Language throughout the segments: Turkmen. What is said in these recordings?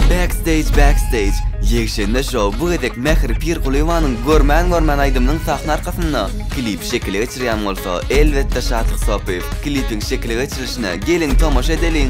Backstage Backstage Ýegşenbe şou bu gezek Mähri Pirkulýowanyň Görmän görmän aýdymynyň sahna arkasynda klip şekile geçirýän bolsa elbetde Şatlyk Sopyýew. Klipiň şekile geçirilişine geliň tomaşa edeliň.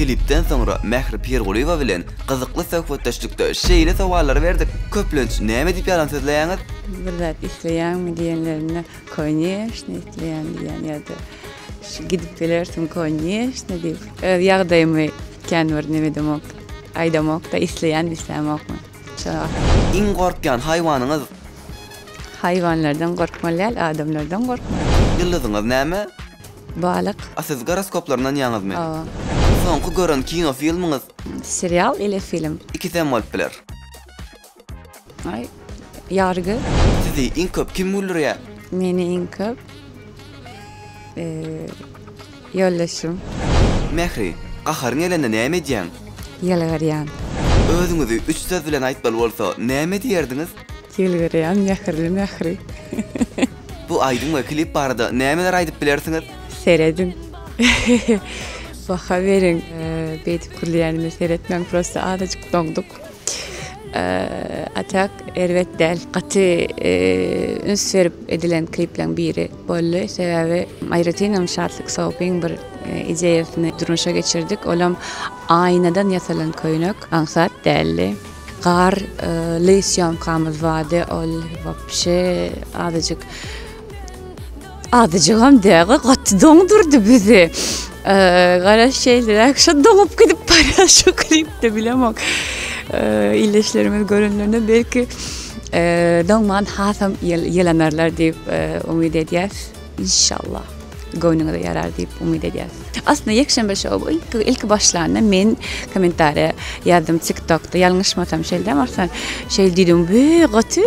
Klipden soňra Mähri Pirgulyýewa bilen gyzykly söhbetdeşlikde şeýle sowallary berdik, Köplenç näme diýip ýalan sözleýäňiz? Bir zat isleýäňmi diýenlerinde, Koneşne isleýän diýýän ýa-da şu gidip gelersiň koneşne diýip. Öz ýagdaýymy kän bir neme edemok. Aýdamok-da isleýän islämokmy. Şo. Iň gorkýan haýwanyňyz? Haýwanlardan gorkmaly däl adamlardan gorkmaly. Ýyldyzyňyz näme? Balyk. A siz goroskoplar ynanýaňyzmy? Hawa. Soňky gören kino filmiňiz? Serial ile film. Ikisem bolup biler. Ay, yargı. Sizi iň köp kim güldürýär? Meni iň köp eee yoldaşym Mähri, gaharyň gelende näme edýäň? yalvaryan. Özüňizi üç söz bilen aýtmaly bolsa, näme diýerdiňiz? Yalvaryan mähirli mähri. Bu aýdym we klip barada nämeler aýdyp bilersiňiz? Seredin. Baha beriň. Eee beýdip gülýänime seretmäň, prosta azajyk doňduk. A tak erbet däl. Gaty üns berip edilen klipleriň biri boldy. Sebäbi aýratynam Şatlyk Sopyň bir ideýasyny durmuşa geçirdik. Olam aýnadan ýasalan köýnek, aňsat däldi. Garly sýomkamyz bardy. Ol wapşe azajyk Azyjygam däl-ä, gaty doňdurdy bizi. Garaş şeýleräk, şo doňup gidip barýar şu klipde bilemok. Ildeşlerimiz görenlerinde belki doňman hasam ýylanarlar diýip umyt edýäs. Inşallah göwnüňize ýarar diýip umyt edýäs. Aslynda ýekşenbe şou ilki ilki başlanda men kommentariýa ýazdym TikTokda ýalňyşmasam şeýle däl Arslan şeýle diýdim we gaty